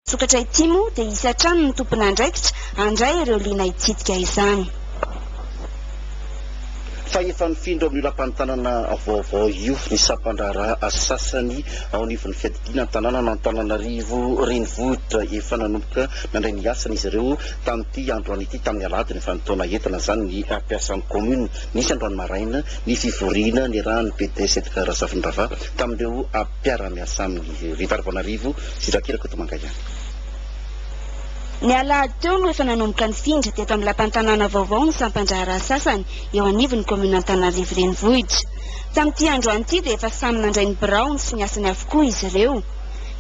Sokatra ity moa dia hisy hatrany ny tompon'andraikitra handray ireo liana hitsidika izany. Fa efa nifindra amin'io lapantanana vaovao io ny sampan-draharaha sasany ao anivon'ny fiadidiana an-tanànan' Antananarivo renivohitra. Efa nanomboka nandray ny asany izy ireo tamin'ity androany ity, tamin'ny aladiny efa nitaona entana izany ny mpiasan'ny kaominina. Nisy androany maraina ny fivoriana niarahan'ny PDS Edgard Razafindrava tamin'ireo mpiara-miasa aminy ireo, ry Tariboanarivo sy Drakey Rakotomanga ihany. Ny alahady teo no efa nanomboka nifindra teto amin'ny lapan'ny tanàna vaovao ny sampan-draharaha sasany eo anivon'ny kaominina Antananarivo Renivohitra. Tamin'ity androany ity dia efa samy nandray ny biraony sy ny asany avokoa izy ireo.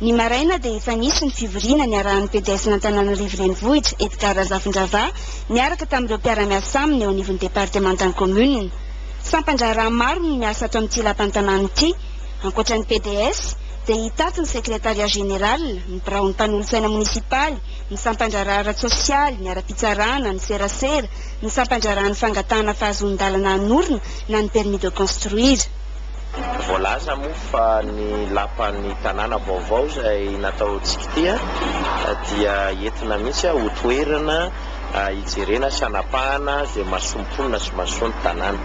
Ny maraina dia efa nisy ny fivoriana niarahan'ny PDS-n'Antananarivo Renivohitra Edgard Razafindravaha niaraka tamin'ireo mpiara-miasa aminy eo anivon'ny departemantan'ny kaominina. Sampan-draharaha maro no miasa ato amin'ity lapan'ny tanàna ity. Ankoatra ny PDS, dia hitaky ny Sekretarià Jeneraly, ny biraon'ny mpanolotsaina monisipaly, ny sampandraharaha ara-tsosialy, ny ara-pitsarana, ny serasera, ny sampandraharahan'ny fangatahana fahazoan-dalana hanorina na ny permis de construire. Voalaza moa fa ny lapan'ny tanàna vaovao izay natao tsikitia dia entina mihitsy ho toerana. hijerena sy hanapahana izay mahasoa ny mponina sy mahasoa ny tanàna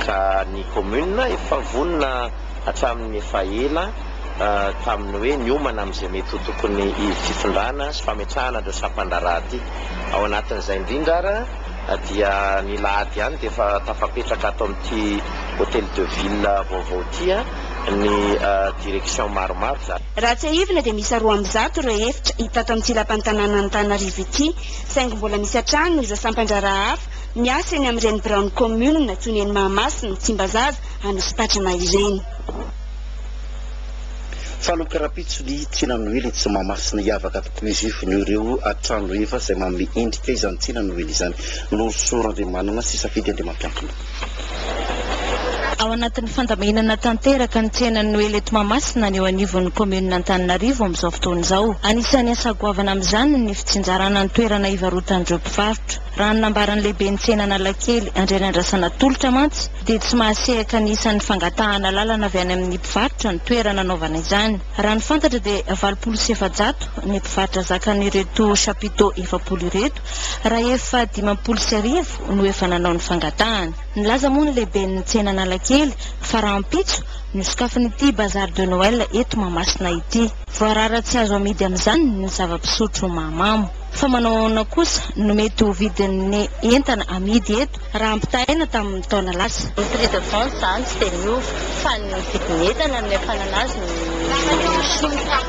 ka ny kaominina efa vonona hatramin'ny efa ela tamin'ny hoe niomana amin'izay mety ho tokony fitondrana sy fametrahana an'ireo sampan-draharaha ity. Ao anatin'izay indrindra ary dia ny lahady ihany dia efa tafapetraka ato amin'ity Hôtel de Ville vaovao ity. ny direction maromaro za. Raha tsiahivina dia miisa roa amby zato ireo efitra hita ato amin'ity lapan'ny tanànan'Antananarivo ity, saingy mbola misy hatrany ireo sampandraharaha hafa miasa eny amin'ireny biraon'ny kaominina toy ny eny Mahamasina, Tsimbazaza, Anosipatrana ireny. Fanamiko rahampitso ny tsina noely etsy Mahamasina hiavaka tokoa izy io noho ireo trano efa izay manome endrika izany tsina noely izany. Norosoron'Andriamanana sy safidy Andriamampiankina. Ao anatin'ny fandaminana tanteraka ny tsenan'ny Noely eto Mahamasina ny eo anivon'ny kaominina Antananarivo amin'izao fotoana izao. Anisan'ny asa goavana amin'izany ny fitsinjarana ny toerana hivarotan'ireo mpivarotra. Raha ny nambaran'ny lehiben'ny tsena Analakely, Andrianandrasana Tolotra mantsy dia tsy mahasehaka ny isan'ny fangatahana lalana avy any amin'ny mpivarotra ny toerana anaovana izany. Raha ny fantatra dia valopolo sy efajato ny mpivarotra zakan'ireto chapiteaux efapolo ireto rahefa dimampolo sy arivo. no efa nanao ny fangatahana. Nilaza moa ny lehiben'ny tsena Analakely fa rahampitso no sokafan'ity bazar de Noël eto Mahamasina ity. Voarara tsy azo amidy amin'izany ny zava-pisotro mahamamo. Fa manao ahoana kosa no mety ho vidin'ny entana amidy eto raha ampitahaina tamin'ny taona lasa. Ny prix de vente izany tsy dia miova fa ny vidin'entana no niafanana azy no miova.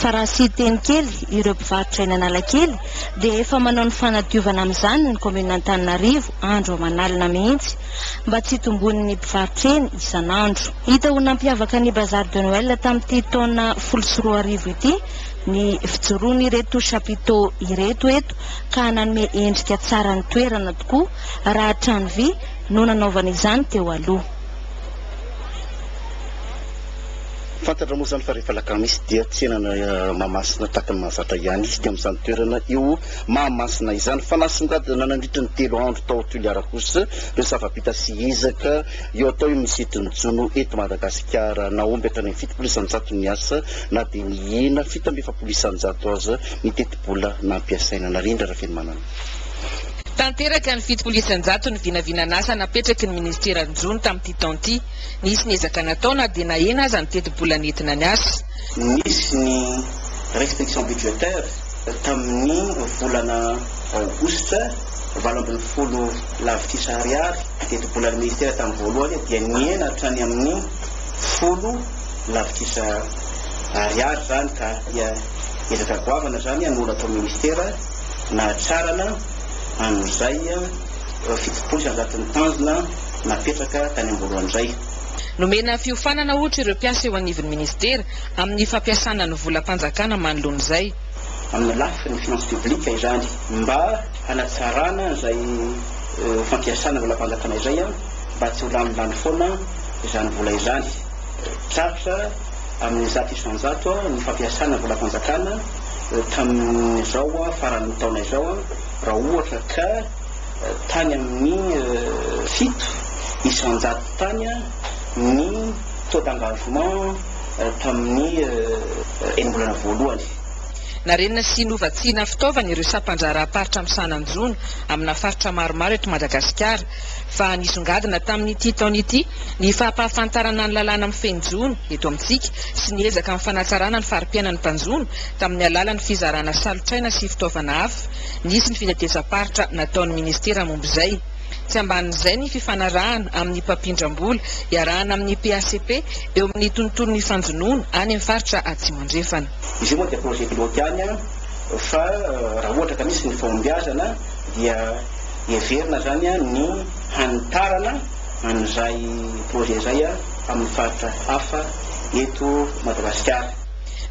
Fa raha sy hiteny kely ireo mpivarotra eny Analakely dia efa manao ny fanadiovana amin'izany ny kaominina Antananarivo andro aman'alina mihitsy mba tsy hitomboan'ny mpivarotra eny isan'andro. Hita ho nampiavaka ny Bazar de Noël tamin'ity taona folo sy roa arivo ity ny fijoroan'ireto chapiteaux ireto eto ka nanome endrika tsara ny toerana tokoa raha trano vy no nanaovana izany teo aloha. Fantatra moa izany fa rehefa alakamisy dia tsenana Mahamasina tahaka ny mahazatra ihany izy teo amin'izany toerana eo Mahamasina izany. Fanasongadina nandritra ny telo andro tao Toliara kosa ireo zava-bita sy ezaka eo atao eo amin'ny sehatrin'ny jono eto Madagasikara. Nahomby hatrany amin'ny fitopolo isan-jato ny asa na dia nihena fito amby efapolo isan-jato aza ny tetibola nampiasaina. Narindra Rafenomanana. Tanteraka ny fitopolo isan-jato ny vinavinan'asa napetraky ny minisiteran'ny jono tamin'ity taona ity. Nisy ny ezaka natao na dia nahena aza ny tetibola nentina niasa. Nisy ny restriction budgétaire tamin'ny volana aogositra, valo ambin'ny folo lavitrisa ariary ny tetibolan'ny ministera tamin'ny voalohany dia nihena hatrany amin'ny folo lavitrisa ariary izany ka dia ezaka goavana izany no natao ministera nahatrarana an'izay fitopolo isanjaton'ny tanjona napetraka tany am-boalohany indray. Nomena fiofanana ohatra ireo mpiasa eo anivon'ny minisitera amin'ny fampiasana ny volam-panjakana manoloana izay. Amin'ny lafiny finances publiques izany. Mba hanatsarana izay fampiasana volam-panjakana izay mba tsy ho lanilany foana izany vola izany. Tratsa amin'ny zato isan-jato ny fampiasana volam-panjakana tamin'izao faran'ny taona izao raha ohatra ka. Tany amin'ny fito isan-jato tany ny taux d'engagement tamin'ny enim-bolana voalohany. Narenina sy novatsiana fitaovana ireo sampandraharaham-paritra misahana ny jono amina faritra maromaro eto Madagasikara, fa nisongadina tamin'ity taona ity ny fahampahafantarana ny lalàna mifehy ny jono eto amintsika sy ny ezaka amin'ny fanatsarana ny fari-piainan'ny mpanjono tamin'ny alalan'ny fizarana salotraina sy fitaovana hafa Nisy ny fitetezam-paritra nataon'ny minisitera momba izay. Tsy ambanin'izay ny fifanarahana amin'ny mpampindram-bola iarahana amin'ny PACP eo amin'ny tontolon'ny fanjonoana any amin'ny faritra Atsimo Andrefana. Izy io moa dia projet pilote ihany fa raha ohatra ka misy ny fahombiazana dia heverina izany ny hanitarana an'izay projet izay amin'ny faritra hafa eto Madagasikara.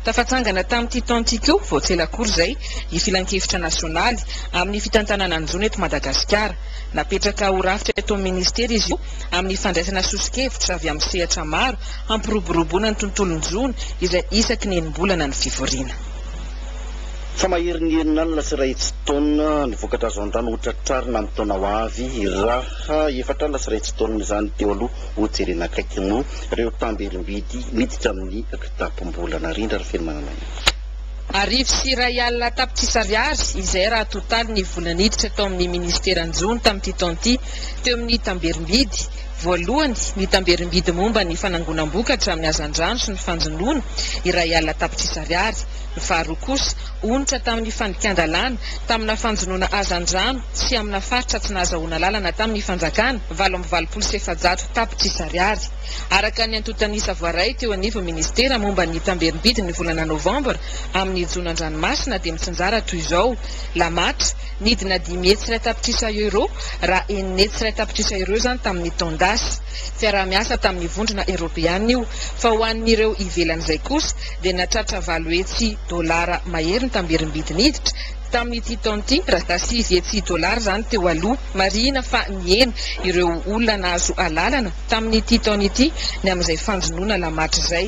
Tafatsangana tamin'ity taona ity koa, vao tsy ela akory izay, ny Filankevitra nasionaly amin'ny fitantanana ny jono eto Madagasikara. Napetraka ho rafitra eto amin'ny minisitera izy io, amin'ny fandraisana soso-kevitra avy amin'ny sehatra maro hampiroboroboana ny tontolon-jono izay isaky ny enim-bolana ny fivoriana. Fa maherin'ny herin'alina sy iray hetsy taona ny vokatra azo an-drano ho tratrarina amin'ny taona ho avy, raha efatra alina sy iray hetsy taona izany teo aloha hojerena akaiky moa ireo tamberim-bidy miditra amin'ny. Tapom-bola narindra ry Feno Manananao. Arivo sy iray alina tapitrisa ariary izay raha totaly ny vola niditra tao amin'ny ministeran'ny jono tamin'ity taona ity teo amin'ny tamberim-bidy, voalohany, ny tamberim-bidy momba ny fanangonam-bokatra amin'ny hazandrano sy ny fanjonoana, iray alina tapitrisa ariary, ny faharoa kosa, onitra tamin'ny fandikan-dalàna tamina fanjonoana hazandrano sy amina faritra tsy nahazahoana lalana tamin'ny fanjakana, valo amby valopolo sy efajato tapitrisa ariary. Araka ny antontan'isa voaray teo anivon'ny minisitera momba ny tamberim-bidy ny volana novambra, amin'ny jono an-dranomasina dia mitsinjara toy izao, La Matra, nidina dimy hetsy iray tapitrisa euro, raha enina hetsy iray tapitrisa euro izany tamin'ny taon-dasa. Fiaraha-miasa tamin'ny vondrona eoropeana io, fa ho an'ireo ivelan'izay kosa dia nahatratra valo hetsy dolara mahery ny tamberim-bidy niditra, tamin'ity taona ity, raha taha sivy hetsy dolara izany teo aloha. Marihina fa nihena ireo olona nahazo alalana. Tamin'ity taona ity, ny amin'izay fanjonoana Alamatry izay,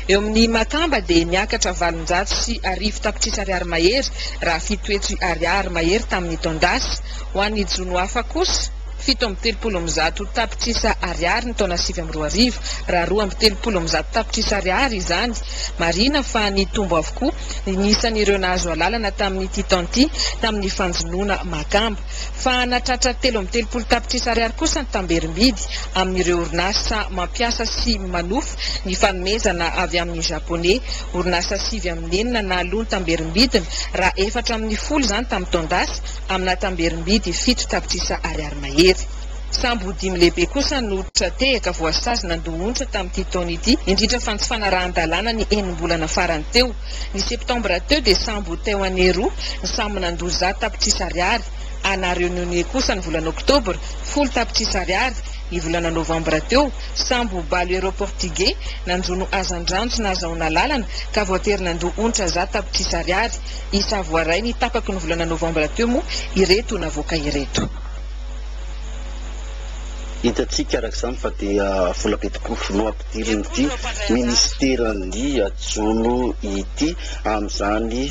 eo amin'ny Makamba dia niakatra valonjato sy arivo tapitrisa ariary mahery raha fito hetsy ariary mahery tamin'ny taon-dasa. Ho an'ny jono hafa kosa, fito amby telopolo amby zato tapitrisa ariary ny taona sivy amby roa arivo, raha roa amby telopolo amby zato tapitrisa ariary izany. Marihina fa nitombo avokoa ny isan'ireo nahazo alalana tamin'ity taona ity tamin'ny fanjonoana Makamba. fa nahatratra telo amby telopolo tapitrisa ariary kosa ny tamberim-bidy amin'ireo orinasa mampiasa sy manofa ny fanomezana avy amin'ny Japoney. Orinasa sivy amby enina nahaloa ny tamberim-bidiny, raha efatra amin'ny folo izany tamin'ny taon-dasa, amina tamberim-bidy fito tapitrisa ariary mahery. Sambo dimy lehibe kosa no tra-tehaka voasazy nandoa onitra tamin'ity taona ity, indrindra fa ny tsy fanarahan-dalàna ny enim-bolana farany teo. Ny septambra teo dia sambo ho teo anie roa ny samy nandoa zato tapitrisa ariary, a La Reunione kosa ny volana oktobra, folo tapitrisa ariary, ny volana novambra teo, sambo ho Baloeiro Portigey nanjono hazandrano tsy nahazahoana lalana ka voatery nandoa onitra zato tapitrisa ariary, i Savoaray ny tapaky ny volana novambra teo moa ireto navoaka ireto. Hitantsika araka izany fa dia volabe tokoa. Dirin'ity minisiteran'ity jono ity amin'izany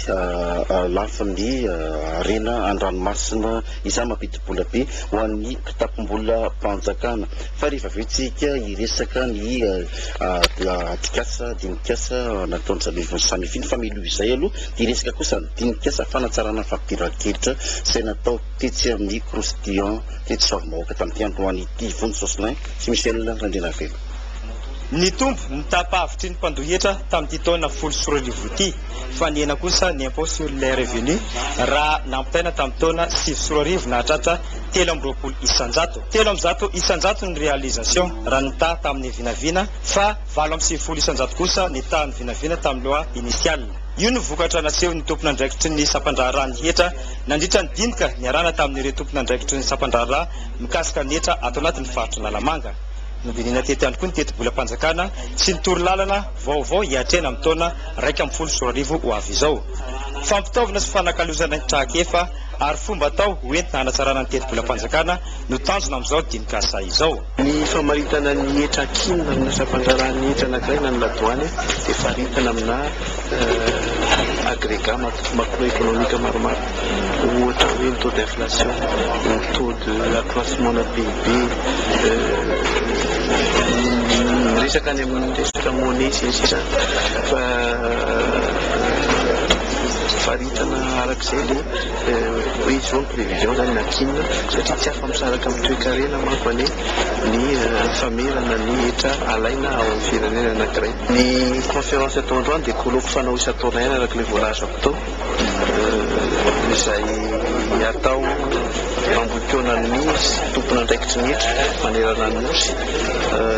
lafiny harena an-dranomasina izany mampidi-bola be ho an'ny kitapom-bolam-panjakana. Fa rehefa avy eo isika hiresaka ny atrikasa, dinikasa nataon'ny zandrivon'ny Samifin ny fameloha izay aloha dia hiresaka kosa ny dinikasa fanatsarana fampiran-ketra izay natao tetsy amin'ny Croustillant tetsy Soavimahoaka tamin'ity androany ity Vonjy Jocelyn sy Michel Randrianavelo. Nitombo ny tapahevitry ny mpandoa hetra tamin'ity taona folo sy roa arivo ity fa nihena kosa ny impôt sur les revenus raha nampitaina tamin'ny taona sivy sy roa arivo nahatratra telo amby roapolo isanjato. Telo amby zato isanjato ny réalisation raha ny taha tamin'ny vinavina fa valo amby sivifolo isanjato kosa ny tahan'ny vinavina tamin'ny loi initiale. Io no vokatra nasehon'ny tompon'andraikitry ny sampandraharahan'ny hetra nandritra ny dinika niarahana tamin'ireo tompon'andraikitry ny sampandraharaha mikasika ny hetra ato anatin'ny faritr'Analamanga. Nodinihina teto ihany koa ny tetibolam-panjakana sy ny torolalana vaovao hiatrehana ny taona iraika ambin'ny folo sy roa arivo ho avy izao. Fampitaovana sy fanakalozana ny trakefa ary fomba atao ho entina hanatsarana ny tetibolam-panjakana no tanjona amin'izao dinikasa izao. Ny famaritana ny hetra ankinina amina fampandraharahan'ny hetra anankiray na ny ladoany dia faritana amina agregat macroeconomique maromaro. Ohatra hoe ny taux d'inflation, ny taux de accroissement na PIB, ny resaka any amin'ny resaka monnaie sy ny sisa fa faritana araka izay ilay hoe izao ny prévision zany na tsy inona satria tsy afa-misaraka amin'ny toekarena manko anie ny famerana ny hetra alaina ao amin'ny firenena anankiray. Ny conférence atao androany dia colloque fanao isan-taona ihany araka ilay voalazako tao. izay atao ambohipoana ny tompon'andraikitry ny hetra manerana ny Nosy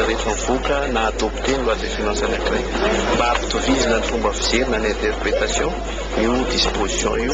rehefa mivoaka na adopter ny loi de finances anankiray. Mba hampitovizina ny fomba fijery na ny interpretation io disposition io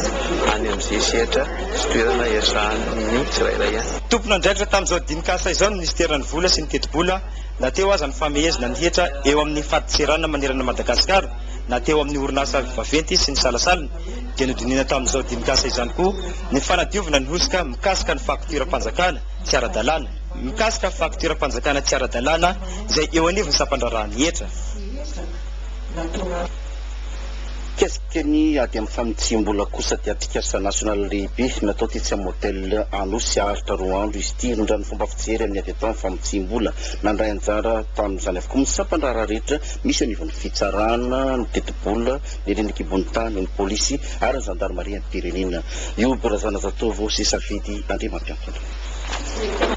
any amin'izay sehatra sy toerana hiasan'ny tsirairay any. Tompon'andraikitra tamin'izao dinikasa izao ny minisiteran'ny Vola sy ny Tetibola na teo aza ny famehezina ny hetra eo amin'ny fadintseranana manerana an'i Madagasikara. na teo amin'ny orinasa vaventy izy sy ny salasalany, dia nodinihina tamin'izao dinikasa izany koa ny fanadiovana ny hosoka mikasika ny faktioram-panjakana tsy ara-dalàna, mikasika faktioram-panjakana tsy ara-dalàna izay eo anivon'ny sampandraharahan'ny hetra. Mikasika ny ady amin'ny fanitsiam-bola kosa dia atrikasa nasionaly lehibe natao tetsy amin'ny Hotel Anosy haharitra roa andro izy ity, rindran'ny fomba fijery amin'ny ady atao amin'ny famotsiam-bola. Nandray anjara tamin'izany avokoa ny sampandraharaha rehetra Misy anivon'ny fitsarana, ny tetibola, ny renin-kibontany, ny polisy ary ny zandarimariam-pirenena. Youb Razanazatovo sy Safidy Andriamampiantona.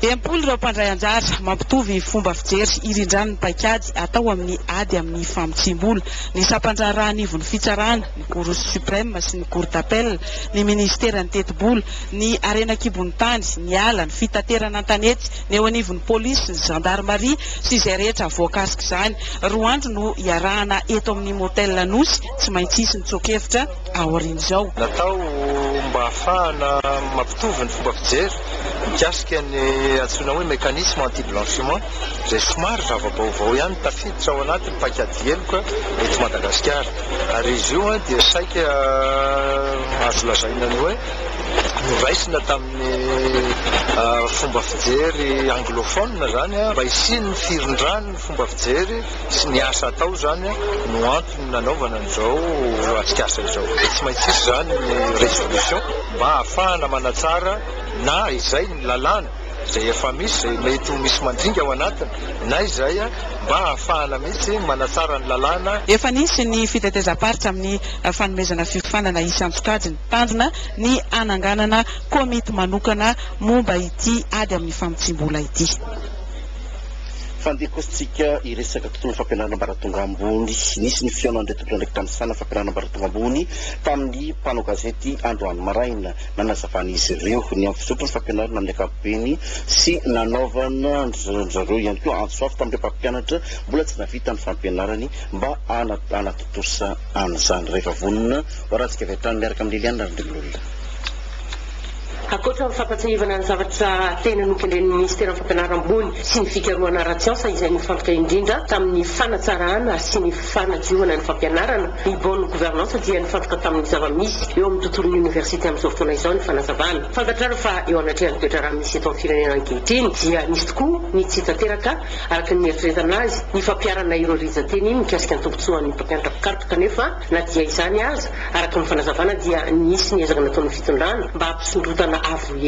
Dimampolo ireo mpandray anjara, mampitovy fomba fijery hirindrany ny paikady atao amin'ny ady amin'ny famotsiam-bola, ny sampan-draharaha anivon'ny fitsarana, ny Cour supreme sy ny Cour d'appel, ny minisiteran'ny tetibola, ny harena an-kibontany, ny ala, ny fitaterana an-tanety, ny eo anivon'ny polisy sy ny zandarimaria sy izay rehetra voakasik'izany. Roa andro no iarahana eto amin'ny Motel Nosy, tsy maintsy hisy ny tsoa-kevitra aorian'izao. Natao mba hahafahana mampitovy ny fomba fijery mikasika ny antsoina hoe mécanisme anti-blanchiment izay somary zava-baovao ihany tafiditra ao anatin'ny paik'ady heloka eto Madagasikara ary izy io dia saika azo lazaina ny hoe noraisina tamin'ny ny fomba fijery anglophone izany mba hisian'ny firindran'ny fomba fijery sy ny asa atao izany no antony nanaovana an'izao atrikasa izao dia tsy maintsy hisy izany ny résolution mba hahafahana manatsara na izay ny lalàna izay efa misy izay mety ho misy mandringa ao anatiny na izay mba hahafahana mihitsy manatsara ny lalàna. Efa nisy ny fitetezam-paritra amin'ny fanomezana fiofanana isan-tsokajiny. Tanjona ny hananganana komity manokana momba ity ady amin'ny famotsiam-bola ity. Fandeha kosa tsika hiresaka tontolon'ny fampianarana ambaratonga ambony. Nisy ny fihaonan'ireo tompon'andraikitra misahana fampianarana ambaratonga ambony tamin'ny mpanao gazety androany maraina. Nanazavan'izy ireo ny amin'ny fizotry ny fampianarana amin'ny ankapobeny sy nanaovana an-dry zareo ihany koa antso avo tamin'ireo mpampianatra mbola tsy nahavita ny fampianarany mba hanatontosa an'izany rehefa vonona ho haratsika avy hatrany miaraka amin'i Liliane Randrian'olona. Ankoatra ny fampatsiahivana ny zavatra tena nokendren'ny Minisiteran'ny Fampianarana ambony sy ny Fikarohana ara-tsiansa izay nifantoka indrindra tamin'ny fanatsarana sy ny fanadiovana ny fampianarana, ny bonne gouvernance dia nifantoka tamin'ny zava-misy eo amin'ny tontolon'ny oniversite amin'izao fotoana izao ny fanazavana. Fantatrareo fa eo anatrehan'ny toetra raha misy eto amin'ny firenena ankehitriny dia misy tokoa ny tsy tanteraka, Araka ny nieritreretana azy, ny fampiharana ireo rijan-teny iny mikasika ny tombontsoan'ny mpampianatra mpikaroka kanefa na dia izany aza, araka ny fanazavana dia nisy ny ezaka nataon'ny fitondrana mba hampisondrotana avo lenta.